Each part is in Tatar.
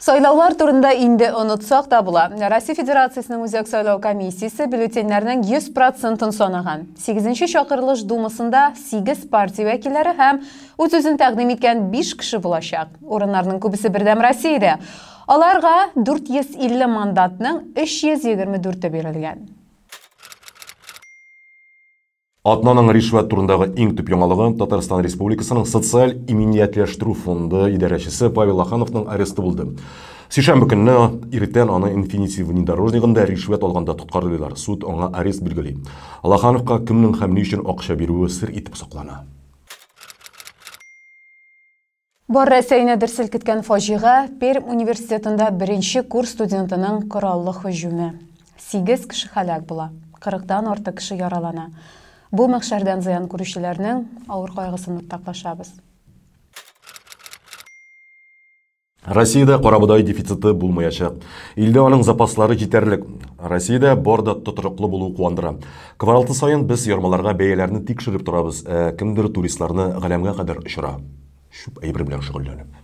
Сайлаулар турында инде онытсак та була. Россия Федерациясенең Үзәк сайлау комиссиясе бюллетеньнәрнең 100 процентын санаган. Сигезенче чакырылыш Думасында сигез партия вәкилләре һәм үз-үзен тәкъдим иткән биш кеше булачак. Урыннарның күбесе Бердәм Россиядә. Аларга 450 мандатның 324-е бирелгән. Атнаның ришвәт турындагы иң төп яңалыгы Татарстан Республикасының социаль иминиятләштерү фонды идарәчесе Павел Ахановның аресты булды. Сишәмбе көнне иртән аны Инфинити внедорожнигында ришвәт алганда тоткарлыйлар. Суд аңа арест билгели. Лахановка кемнең һәм ни өчен акча бирүе сер итеп саклана. Бар Рәсәйне дер селкеткән фаҗига, Пермь университетында беренче курс студентының кораллы һөҗүме. Сигез кеше һәлак була, кырыктан артык кеше яралана. Бу мәхшәрдән зыян күрүчеләрнең авыр кайгысын уртаклашабыз. Россиядә карабодай дефициты булмаячак. Илдә аның запаслары җитәрлек. Россиядә бар да тотрыклы булуы куандыра. Кваралты саен без ярмаларга бәяләрне тикшереп торабыз, ә кемдер туристларны галәмгә кадәр очыра, чүп әйбер белән шөгыльләнеп.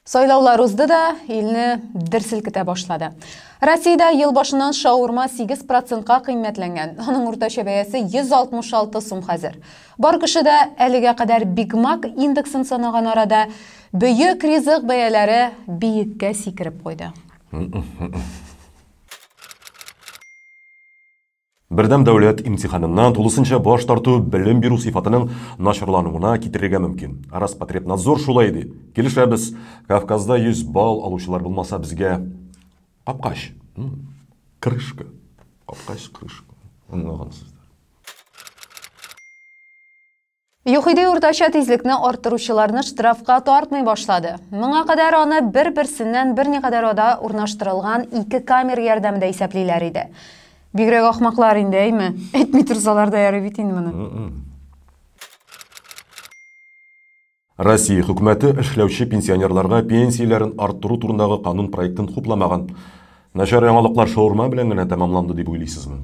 Сайлаулар узды да, илне дер селкетә башлады. Россиядә ел башыннан шаурма 8 процентка кыйммәтләнгән. Аның уртача бәясе 166 сум хәзер. Бар кеше дә әлегә кадәр Биг Мак индексын санаган арада, бөек ризык бәяләре биеккә сикереп куйды. Бердәм дәүләт имтиханыннан тулысынча баш тарту белем бирү сыйфатының начарлануына китерергә мөмкин. Роспотребнадзор шулай ди. Килешәбез. Кавказда 100 балл алучылар булмаса, безгә капкач, крышка, капкач, крышка, аңлагансыздыр. Юхиди уртача тизлекне арттыручыларны штрафка тартмый башлады. Моңа кадәр аны бер-берсеннән берникадәр ада урнаштырылган ике камер ярдәмендә исәплиләр иде. Бигрәк ахмаклар инде, әйме? Әйтми торсалар да ярый бит инде моны. Россия хөкүмәте эшләүче пенсионерларга пенсияләрен арттыру турындагы канун проектын хупламаган. Начар яңалыклар шаурма белән генә тәмамланды дип уйлыйсызмы?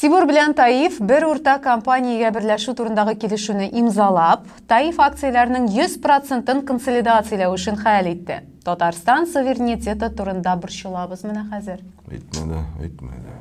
Тимур белән Таиф бер уртак компаниягә берләшү турындагы килешүне имзалап, Таиф акцияләренең 100 процентын консолидацияләү эшен хәл итте. Татарстан суверенитеты турында борчылабыз менә хәзер. Әйтмә дә, әйтмә дә.